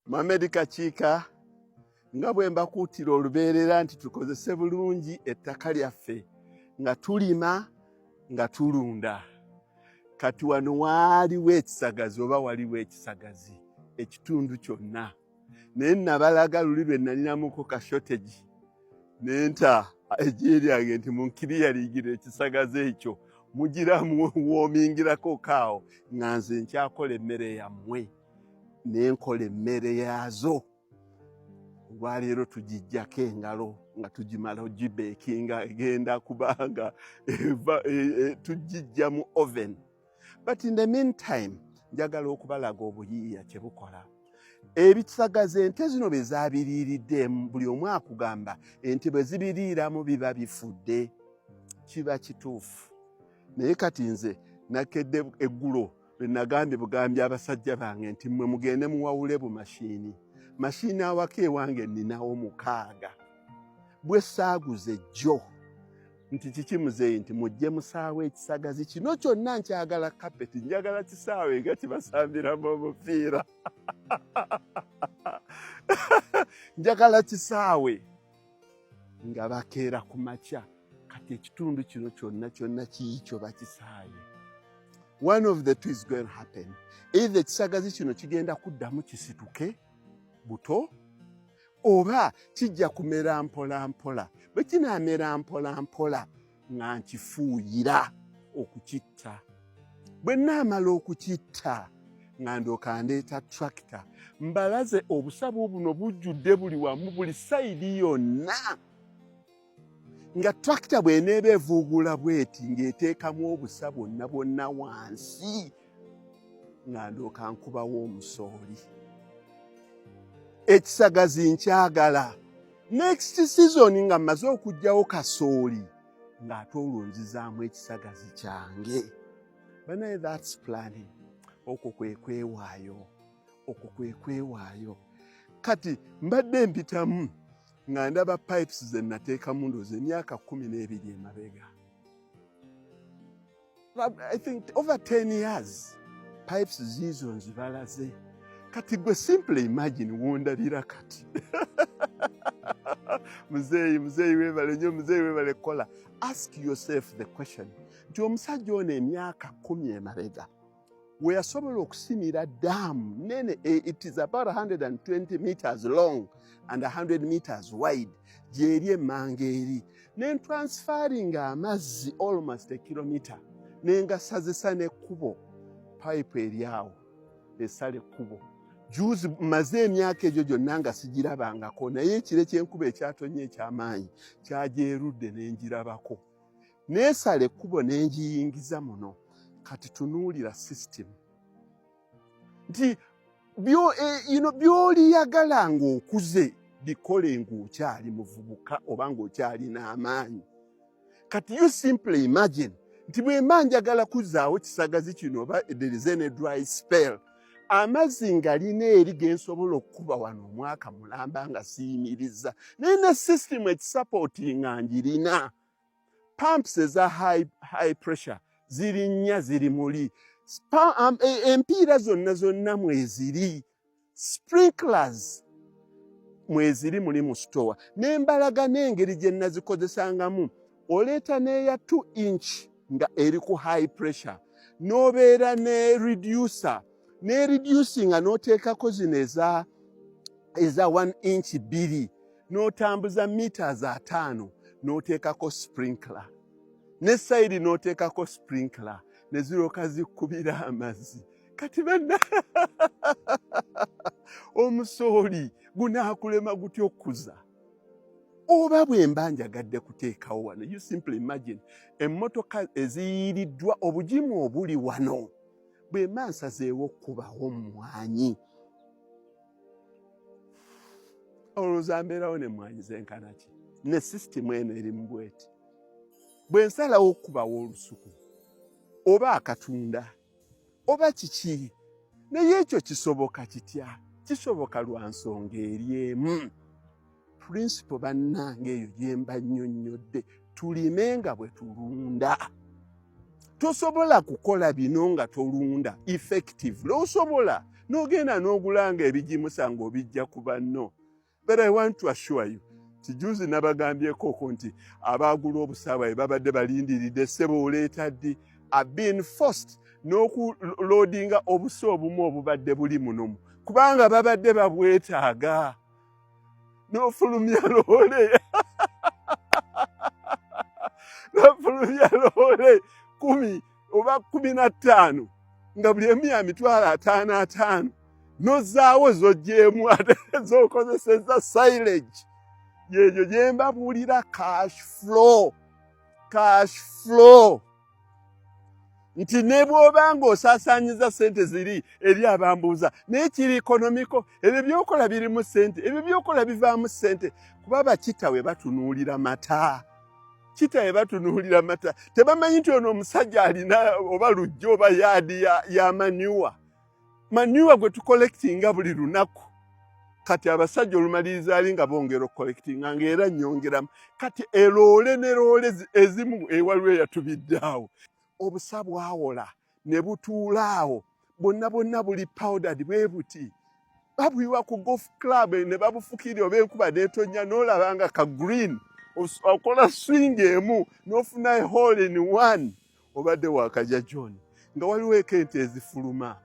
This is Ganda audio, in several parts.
Mohamed Kakiika nga bwe mbakuutira olubeerera nti tukozese bulungi ettaka lyaffe nga tulima nga tulunda kati wano waaliwo ekisagazi oba waliwo ekisagazi ekitundu kyonna naye nabalaga luli lwe nalinamuko ka shortage nenta ejiye lyange nti munkiriya ligira ekisagazi ekyo mugira muwomingirako kaawo nga nze nkyakola emmere yammwe nenkola emmere yaazo olwaleero tugijjako engalo nga tugimala ogibeekinga egenda kubanga e, e, tugijja mu oven but in the meantime njagala okubalaga obuyiiya kye bukola ebisagaza ente zino bye zabiriiriddemu buli omu akugamba ente bwe zibiriiramu biba bifudde kiba kituufu naye kati nze nakedde eggulo lwe nagambye bugambye abasajja bange nti mmwe mugende muwawule bu mashiini mashiini awaka ewange nninawo mukaaga bwe saaguze jjo nti kiki muzeeyi nti mujje musaawo ekisagazi kino kyonna nkyagala kapeti njagala kisaawe nga kibasambiramu omupiira njagala kisaawe nga bakeera ku makya kati ekitundu kino kyonna kyonna kiikyo bakisaaye one of the two is going to happen either ekisagazi kino kigenda kuddamu kisituke buto oba kijja kumera mpola mpola bwe kinaamera mpola mpola nga nkifuuyira okukitta bwe naamala okukitta nga ndyoka ndeeta tractor mbalaze obusabu buno bujjudde buli wamu buli sayidi yonna nga tractor bw'eneeba evuuguula bweti ng'eteekamu obusa bwonna bwonna wansi nga ndooka nkubawo omusooli ekisagazi nkyagala next season nga mmaze okugjawo kasooli ng'ate olwo nzizaamu ekisagazi kyange banaye thats planning okwo kwe kwewaayo okwo kwe kwewaayo kati mbadde mpitamu nga ndaba pipes ze nateekamu ndoozi emyaka kumi n'ebiri emabega I think over 10 years pipes ziizo nzibalaze kati gwe simple imagine wondabira kati muzeeyi muzeeyi webale nyo muzeeyi webale kukola ask yourself the question nti omusajja ono emyaka kumi emabega weyasobola okusimira daamu nene eh, it is about 120 meters long and 100 meters wide gyeri emmanga eri nentransferinga amazzi almost a kilomita nengasazisa nekkubo pipe eryawo esala ekkubo juzi maze emyaka egyo gyonna nga sigirabangako naye ekire kyenkuba ekyatonye ekyamaanyi kyagyerudde nengirabako neesala ekkubo ne ngiyingiza muno kati tunuulira sisitimu nti e, by'oliyagala ng'okuze bikole ng'okyali muvubuka oba ng'okyali n'amaanyi kati you simply imagine nti bwemba njagala kuzaawo kisagazi kino oba there is any dry spell amazzi ngalina eri gensobola okukuba wano omwaka mulamba nga siyimiriza naye ne system ekisapoti nga ngirina pumps eza high, high pressure ziri nnya ziri muli um, e, empiira zonna zonna mweziri sprinklers mweziri muli mu sitowa nembalaga n'engeri gye nazikozesangamu oleeta n'eya 2 inch nga eri ku high pressure n'obeera ne reducer ne reducinga n'oteekako zino eza eza 1 inch bbiri n'otambuza meters ataano n'oteekako sprinkler ne sayidi n'oteekako sprinkler ne zirooka zikkubira amazzi kati banna omusooli gunaakulema gutya okukuza oba bwe mba njagadde kuteekawo wano you simply imagine emmotoka eziyiiriddwa obugimu obuli wano bwe mba nsazeewo okukubawo mmwanyi olowooza mbeerawo ne mmwanyi zenkana ki ne sisitimu eno eri mu bweti bwe nsalawo okukubawo olusuku oba akatunda oba kiki naye ekyo kisoboka kitya kisoboka lwa nsonga eri emu pulinsipo bannange eyo gyemba nnyonnyodde tulime nga bwe tulunda tosobola kukola bino nga tolunda effective losobola n'ogenda n'ogulanga ebigimusa nga obijja ku banno but i want to assure you tijuzi nabagambyekoko nti abaagula obusaawa bwe babadde balindiridde sebo oleeta ddi abeen fost n'okuloodinga obusa obumu obubadde buli munomu kubanga babadde babwetaaga n'ofulumya loole n'ofulumya loole kumi oba kumi na ttaano nga buli emu ya mitwalo ataano ataano nozaawo zojjeemu ate zokozeseza silage yeeyo gyembabuulira cash flow cash flow nti ne bw'oba ng'osaasaanyiza ssente ziri eri abambuuza naye kiri ekonomiko ebyo byokola birimu ssente ebyo byokola bivaamu ssente kuba bakitawe batunuulira mata kitaye batunuulira amata tebamanyi nti ono omusajja alina oba lujja oba yaadi ya, ya manyuwa manyuwa gwe tukolekitinga buli lunaku kati abasajja olumaliriza ali nga bongera okukolekitinga ngaera nyongeramu kati eloole ne loole ezimu ewaliwo eyatubidde awo obusa bwawola ne butuula awo bonna bonna buli powdad bwe buti babuyiwa ku golf club ne babufukiri oba enkuba netonnya n'olaba nga ka green okola swing emu n'ofuna ehall in one obadde wakaja john nga waliwo eko ente ezifuluma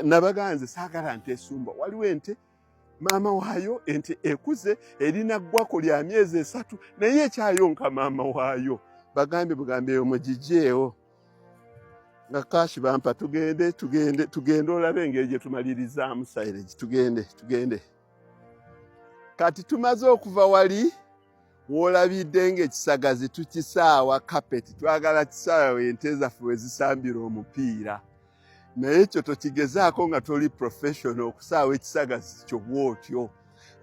nabagaa nze saagala nte esumba waliwo ente maama waayo ente ekuze erina ggwako lya myezi esatu naye ekyayonka maama waayo bagambye bugambye eyo mugijeewo nga kashi bampa tugende tugende tugende olabe engeri gye tumalirizaamu silage tugende tugende kati tumaze okuva wali wolabidde ng'ekisagazi tukisaawa kapeti twagala kisaawa ente zaffe we zisambira omupiira naye ekyo tokigezaako nga toli professional okusaawa ekisagazi kyo bwotyo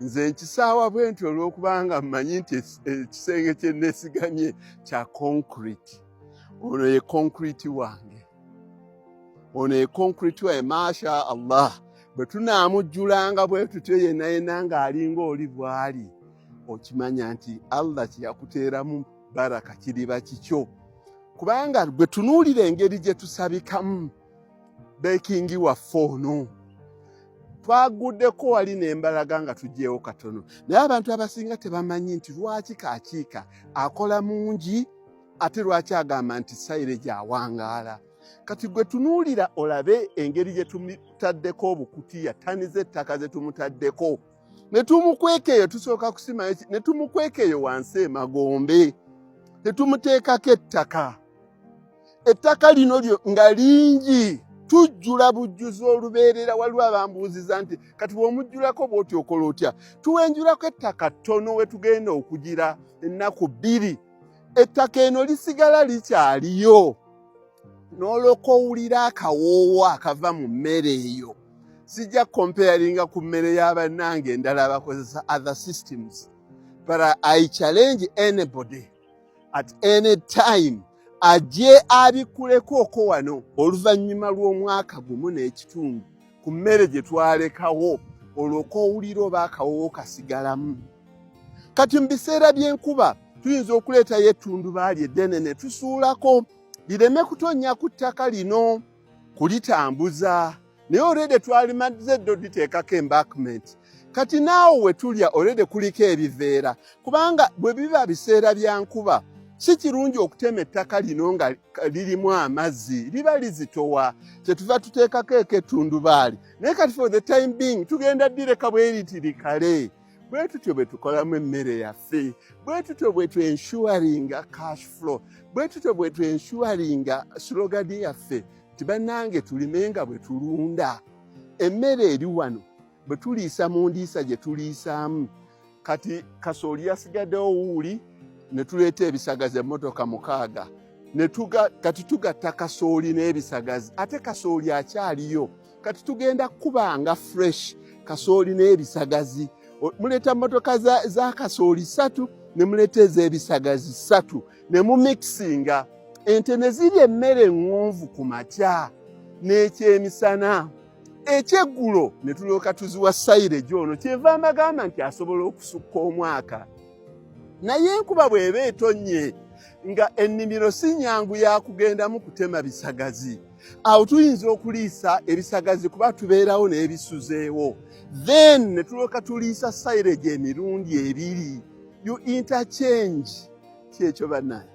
nze nkisaawa bwe nti olw'okubanga mmanyi nti ekisenge kye nneesigamye kya concrete ono ye concrete wange ono econcrete waye masha allah bwe tunaamujjulanga bwe tutyo yenna yenna ng'alinga oli bw'ali okimanya nti allah kyeyakuteeramu baraka kiriba kikyo kubanga gwe tunuulira engeri gye tusabikamu bekingi waffe ono twaguddeko wali nembalaga nga tugyewo katono naye abantu abasinga tebamanyi nti lwaki kakiika akola mungi ate lwaki agamba nti sayire gyawangaala kati gwe tunuulira olabe engeri gye tumutaddeko obukutiya tani z'ettaka ze tumutaddeko ne tumukweka eyo tusooka kusimayo ne tumukweka eyo wansi emagombe ne tumuteekako ettaka ettaka lino lyo nga lingi tujjula bujjuzi olubeerera waliwo abambuuziza nti kati bw'omujjulako bw'oti okola otya tuwenjulako ettaka ttono we tugenda okugira ennaku bbiri ettaka eno lisigala likyaliyo n'olwoka owulira akawoowo akava mu mmere eyo sijja comparinga ku mmere y'abannange endala abakozesa other systems but i challenge anybody at any time ajje abikulekooko wano oluvannyuma lw'omwaka gumu n'ekitundu ku mmere gye twalekawo olwoka owulira oba akawoowo kasigalamu kati mu biseera by'enkuba tuyinza okuleetayo ettundubaali eddene ne tusuulako lireme kutonnya ku ttaka lino kulitambuza naye olwede twalimadze dde oditeekako embakment kati naawo we tulya olwede kuliko ebiveera kubanga bwe biba biseera bya nkuba si kirungi okutema ettaka lino nga lirimu amazzi liba lizitowa kyetuva tuteekako eko ettundubaali naye kati for the time being tugenda ddireka bweriti likale bwe tutyo bwe tukolamu emmere yaffe bwe tutyo bwe twenshuwaringa cash flow bwe tutyo bwe twenshuwaringa slogadi yaffe nti bannange tulime nga bwe tulunda emmere eri wano bwe tuliisa mu ndiisa gye tuliisaamu kati kasooli yasigaddewo wuuli ne tuleeta ebisagazi emmotoka mukaaga kati tugatta kasooli n'ebisagazi ate kasooli akyaliyo kati tugenda kukuba nga fresh kasooli n'ebisagazi muleeta motoka za, za kasooli satu ne muleeta ez'ebisagazi satu ne mumixinga ente ne zirya emmere eŋŋonvu ku makya n'ekyemisana ekyeggulo ne tulyoka tuziwa sayireji ono kyeva amagamba nti asobola okusukka omwaka naye enkuba bw'eba etonnye nga ennimiro si nnyangu ya kugendamu kutema bisagazi awo tuyinza okuliisa ebisagazi kuba tubeerawo n'ebisuzeewo then ne tulyoka tuliisa silage emirundi ebiri you interchange kyekyo banaye